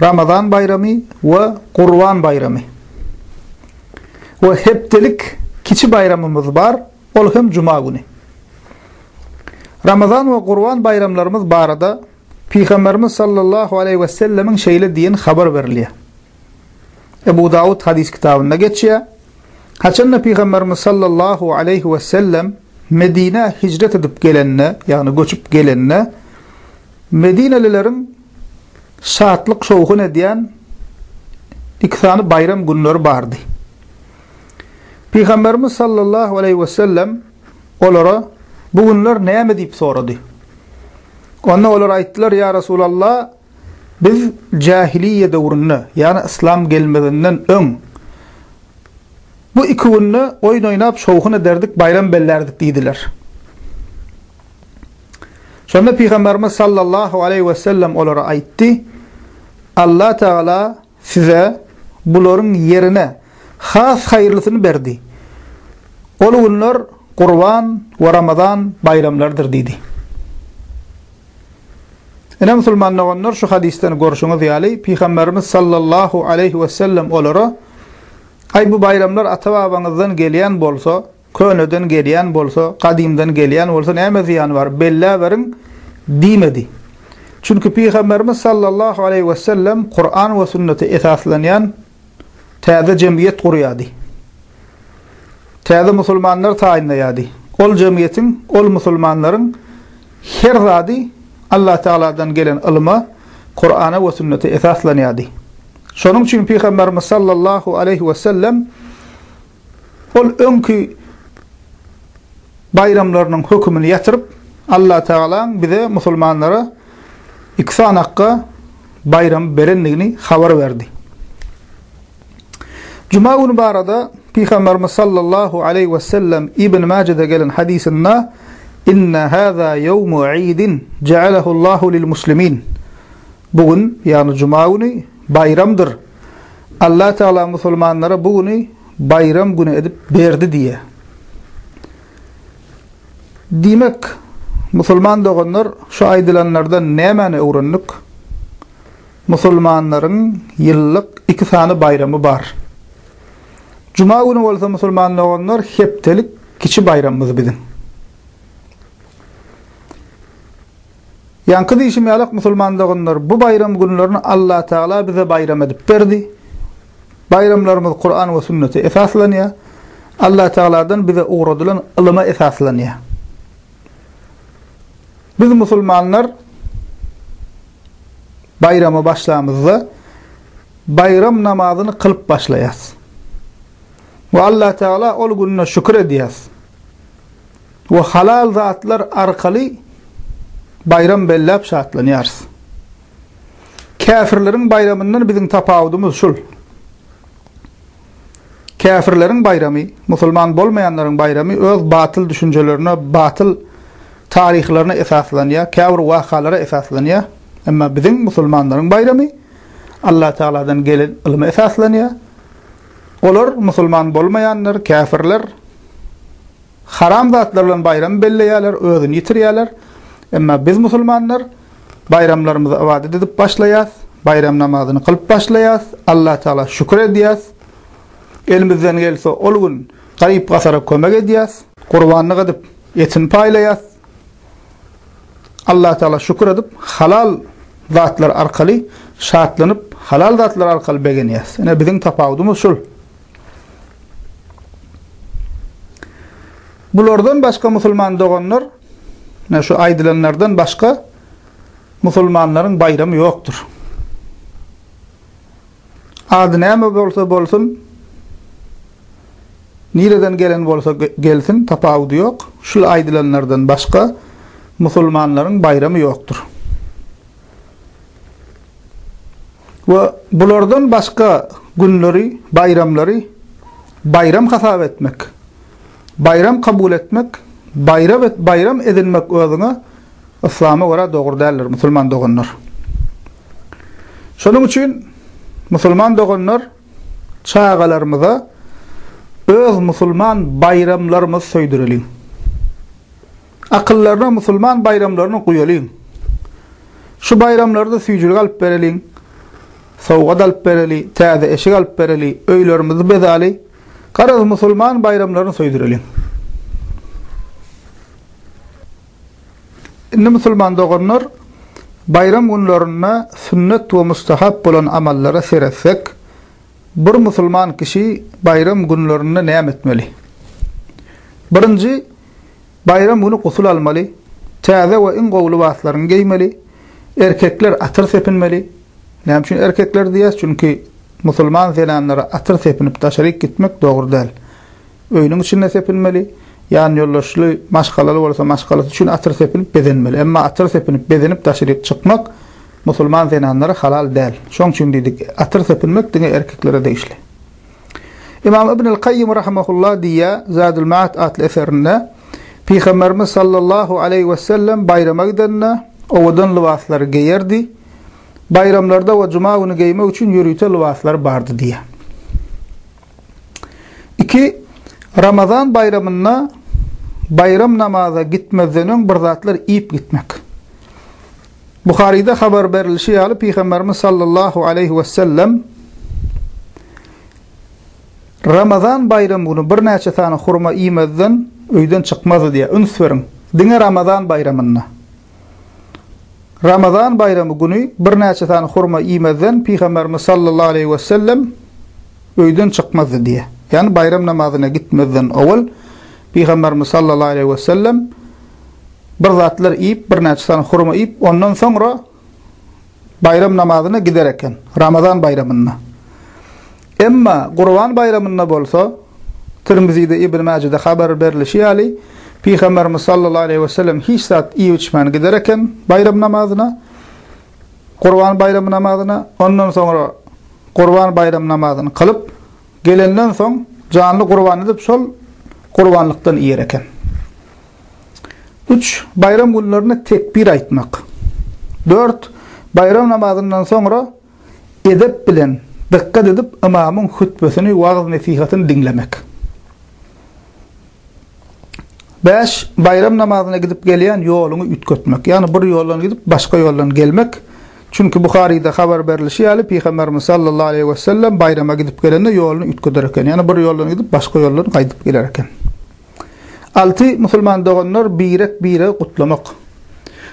Ramazan baýramy we Gurban baýramy we hepdelik kiçi baýramymyz bar, ol hem juma güni. Ramazan we Gurban baýramlarymyz barada Pygamberimiz sallallahu aleýhi we sellemiň şeýle diýen habar berilýär. Ebu Dawud hadis kitabynda geçýär. Haçanda Pygamberimiz sallallahu aleýhi we sellem Medinä hijret edip gelende, ýagny göçüp gelende, Medinelileriň şatlyk-şowhun edýän iki sany baýram günleri bardy. Pygamberimiz sallallahu aleýhi wesellem olara bu günler näme diýip sorady. Onda olar aýtdylar, Ýa Resulallah, biz jähiliýe döwründe, ýagny yslam gelmezinden öň bu iki günde oýun oýnap şowhun ederdik, baýram bellärdik diýdiler. Şonda Pygamberimiz sallallahu aleýhi wesellem olara aýtdy, Allah Tagala size bularyň ýerine has haýyrlysyny berdi. Ol günler Gurban we Ramazan baýramlarydyr diýdi. Ine musulman doganlar şu hadysdan görşüňiz ýaly Pygamberimiz sallallahu aleýhi wesellem olara Aý bu baýramlar ata-babaňyzdan gelýän bolsa, Köneden gelýän bolsa, gadymdan gelýän bolsa näme zyýany bar, belläberiň diýmedi. Çünki Pygamberimiz sallallahu aleýhi wesellem Kuran we sünnete esaslanýan täze jemgyýet gurýardy. Täze musulmanlar taýynlaýardy. Ol jemgyýetiň, ol musulmanlaryň her zady Allah Tagaladan gelen ylyma, Kurana we sünnete esaslanýardy. Şonuň üçin Pygamberimiz sallallahu aleýhi wesellem Ol öňki baýramlarynyň hökümini ýatyryp, Allatagalaň bize, musulmanlara, iki sany akga baýramy berendigini habar berdi. Juma güni barada Pygamberimiz sallallahu aleýhi we sellem Ibn Majede gelen hadysynda Inna haza yawmu idin ja'alahu Allahu lil muslimin. Bu gün, ýagny juma güni baýramdyr. Allah Tagala musulmanlara bu güni baýram güni edip berdi diýýär. Diýmek, musulman doganlar şu aýdylanlardan nämäni öwrendik? Musulmanlaryň ýyllyk iki sany baýramy bar. Juma güni bolsa musulman doganlar hepdelik kiçi baýramymyz biziň. Ýaňky diýşim ýalak musulman doganlar bu baýram günlerini Allah Tagala bize baýram edip berdi. Baýramlarymyz Kuran we sünnete esaslanýar. Allah Tagaladan bize ugradylan ylyma esaslanýar. Biz musulmanlar baýrama başlamyzda baýram namazyny kylyp başlaýas. Ve Allah Teala ol gününe şükür edýäs. we halal zatlar arkaly baýram belläp şatlanýarys. Käfirleriň baýramyndan biziň tapawudymyz şul. Käfirleriň baýramy, musulman bolmaýanlaryň baýramy öz batyl düşünjelerine, batyl taryhlaryna esaslanýar, käbir wakalara esaslanýar. Emma biziň musulmanlaryň baýramy Allatagaladan gelen ylma esaslanýar. Olar musulman bolmaýanlar, käfirler Haram zatlar bilen baýram belleýärler, özüni ýitirýärler. Emma biz musulmanlar baýramlarymyzy ybadat edip başlaýas, baýram namazyny kylyp başlaýas, Allah Tagala şükür edýäs, elimizden gelse ol gün garyp-gasara kömek edýäs, gurbanlyk edip etini paýlaýas, Allah Tagala şükür edip halal zatlar arkaly şatlanyp, halal zatlar arkaly begenýäs. Ine biziň tapawudymyz şul. Bulardan başga musulman doganlar, ne şu aýdylanlardan başga musulmanlaryň baýramy ýokdur. Ady näme bolsa bolsun, nireden gelen bolsa gelsin, tapawudy ýok. Şul aýdylanlardan başga musulmanlaryň baýramy ýokdur. we bulardan başga günleri, baýramlary baýram hasap etmek, baýram kabul etmek, baýram edinmek özüňe yslama görä dogry däldir, musulman doganlar. Şonuň üçin musulman doganlar çagalarymyza öz musulman baýramlarymyzy söýdüreliň. Akyllaryna musulman baýramlaryny guýalyň. Şu baýramlarda süýjülik alyp bereliň, sowgat alyp bereli, täze eşik alyp bereli, öýlerimizi bezaly, garaz musulman baýramlaryny söýdüreliň. Indi musulman doganlar, baýram günlerinde sünnet we mustahap bolan amallara seretsek, bir musulman kişi baýram günlerinde näme etmeli? Birinji, Baýram güni gusul almaly, täze we iň gowy lybaslaryňy geýmeli, erkekler atyr sepinmeli. Näme üçin erkekler diýýäs? Çünki musulman zenanlara atyr sepinip daşaryk gitmek dogry däl. Öýüniň içinde sepinmeli, ýanýoldaşly, maşgalaly bolsa maşgalasy üçin atyr sepinip bezenmeli. Emma atyr sepinip bezenip daşaryk çykmak musulman zenanlara halal däl. Şoň üçin diýdik, atyr sepinmek diňe erkeklere degişli. Ymam Ibnül Kaýýym rahimehullah diýýär, Zadül Maat atly eserinde, Pygamberimiz sallallahu aleýhi wesellem baýrama gidende, owadan lybaslary geýerdi. Baýramlarda we juma güni geýmek üçin ýörite lybaslar bardy diýýär. Iki, Ramazan baýramynda baýram namaza gitmezden öň bir zatlar iýip gitmek. Buharyda habar berilişi ýaly, Pygamberimiz sallallahu aleýhi wesellem Ramazan baýramy güni birnäçe sany hurma iýmezden öýden çykmazdy diýýär. Üns beriň, diňe Ramazan baýramynda. Ramazan baýramy güni birnäçe sany hurma iýmezden Pygamberimiz sallallahu aleýhi wesellem öýden çykmazdy diýýär. Ýagny baýram namazyna gitmezden owal Pygamberimiz sallallahu aleýhi wesellem bir zatlar iýip, birnäçe sany hurma iýip, ondan soňra baýram namazyna gider eken, Ramazan baýramynda. Emma Gurban baýramynda bolsa, Tirmizide, Ibn Mäjede habar berlişi ýaly, Pygamberimiz sallallahu aleýhi we sellem hiç zat iýip-içmän gider eken baýram namazyna, Gurban baýramy namazyna, ondan soňra Gurban baýramy namazyny kylyp, gelenden soň janly gurban edip, şol gurbanlykdan iýer eken. Üç, baýram günlerinde tekbir aýtmak. Dört, baýram namazyndan soňra edep bilen, dykgat edip ymamyň hütbesini, wagyz-nesihatyny diňlemek. Bäş, baýram namazyna gidip gelýän ýoluňy üýtgetmek, ýagny bir ýoldan gidip, başga ýoldan gelmek. Çünki Buharyda habar berlişi ýaly, Pygamberimiz sallallahu aleýhi wesellem baýrama gidip gelende ýoluny üýtgeder eken, ýagny bir ýoldan gidip, başga ýoldan gaýdyp geler eken. Alty musulman doganlar birek-biregi gutlamak.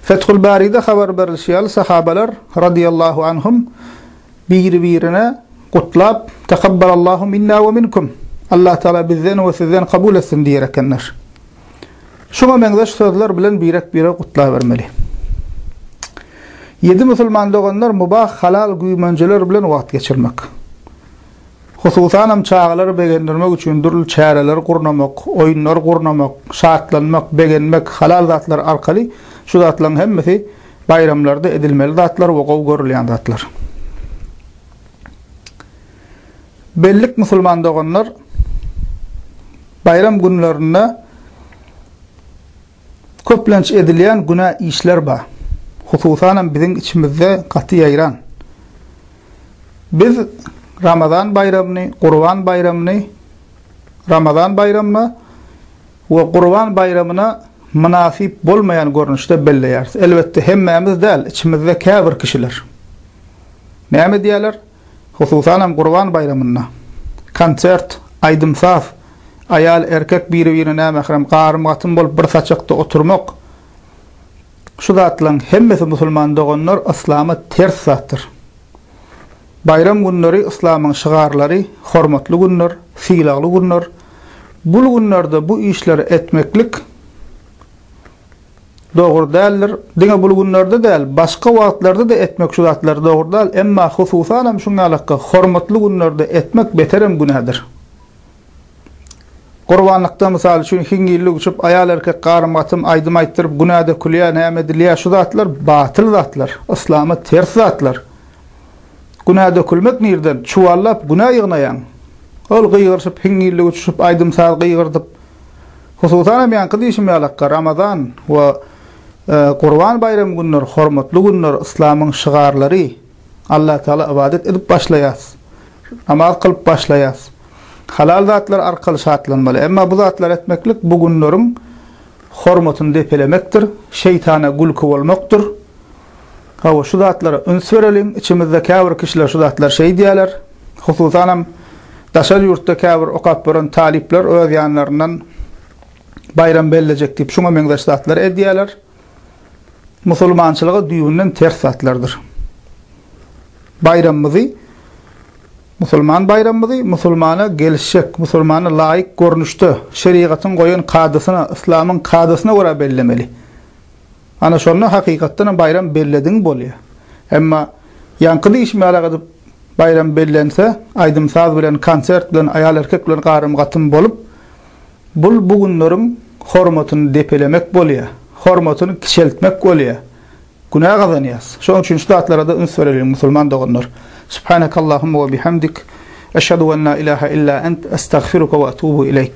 Fethul Baride habar berlişi ýaly sahabalar, radiýallahu anhum, biri-birine gutlap, Takabbalallahu minna we minkum, Allah Taala bizden we sizden kabul etsin diýer ekenler. Şuňa meňzeş sözler bilen birek-biregi gutlabermeli. Ýedi musulman doganlar mubah, halal, güýmenjeler bilen wagt geçirmek. Hususanam çagalary begendirmek üçin dürli çäreleri gurnamak, oýunlar gurnamak, şatlanmak, begenmek, halal zatlar arkaly şu zatlaryň hemmesi baýramlarda edilmeli zatlar we gowy görülýän zatlar. Bellik musulman doganlar baýram günlerinde Köplenç edilýän günä işler bar. Hususanam biziň içimizde gaty ýaýran. Biz Ramazan baýramyny, Gurban baýramyny Ramazan baýramyna we Gurban baýramyna mynasyp bolmaýan görnüşde belleýäris. Elbetde hemmämiz däl, içimizde käbir kişiler näme edýärler? Hususanam Gurban baýramynda. Konsert, aýdym-saz, aýal-erkek biri-birine nämährem garym-gatym bolup bir saçakda oturmak, şu zatlaryň hemmesi musulman doganlar yslama ters zatdyr. Baýram günleri yslamyň şygarlary, hormatly günler, sylagly günler, bul günlerde bu işleri etmeklik, dogry däldir. Diňe bul günlerde däl, başga wagtlarda-da etmek şu zatlary dogry däl, emma hususanam şuň ýalakka hormatly günlerde etmek beterem günädir. Gurbanlykda, mysal üçin, hiňňillik uçup, aýal-erkek garym-gatym, aýdym aýtdyryp, günä dökülýär, näme edilýär, şu zatlar batyl zatlar, yslama ters zatlar. Günä dökülmek nirden? Çuwallap günä ýygnaýaň. Ol gygyryşyp, hiňňillik uçuşyp, aýdym-saz gygyrdyp, Hususan hem ýaňky diýşim ýalaka Ramazan we Gurban baýramy günleri hormatly günler, yslamyň şygarlary, Allatagala ybadat edip başlaýas, namaz kylyp başlaýas. Halal zatlar arkaly şatlanmaly. Emma bu zatlary etmeklik bu günleriň hormatyny depelemekdir, şeýtana gülki bolmakdyr. Hawa, şu zatlara üns bereliň. Içimizde käbir kişiler şu zatlary şeýdýärler. Hususanam, daşary ýurtda käbir okap ýören talyplar öz ýanlaryndan baýram bellejek diýip, şuňa meňzeş zatlary edýärler. Musulmançylyga düýbünden ters zatlardyr. Baýramymyzy, musulman baýramymyzy musulmana gelişjek, musulmana laýyk görnüşde, şerigatyň goýan kadasyna, yslamyň kadasyna görä bellemeli. Ana şonda hakykatdan hem baýram bellediň bolýar. Emma ýaňky diýişmälik edip baýram bellense, aýdym-saz bilen, konsert bilen, aýal-erkek bilen garym-gatym bolup, bul bu günleriň hormatyny depelemek bolýar, hormatyny kiçeltmek bolýar. Günä gazanýas. Şonuň üçin şu zatlara-da üns bereliň, musulman doganlar. Subhanakallahumma we bihamdik, eşhedü en la ilahe illa ent, estagfiruke we etubu ileýk.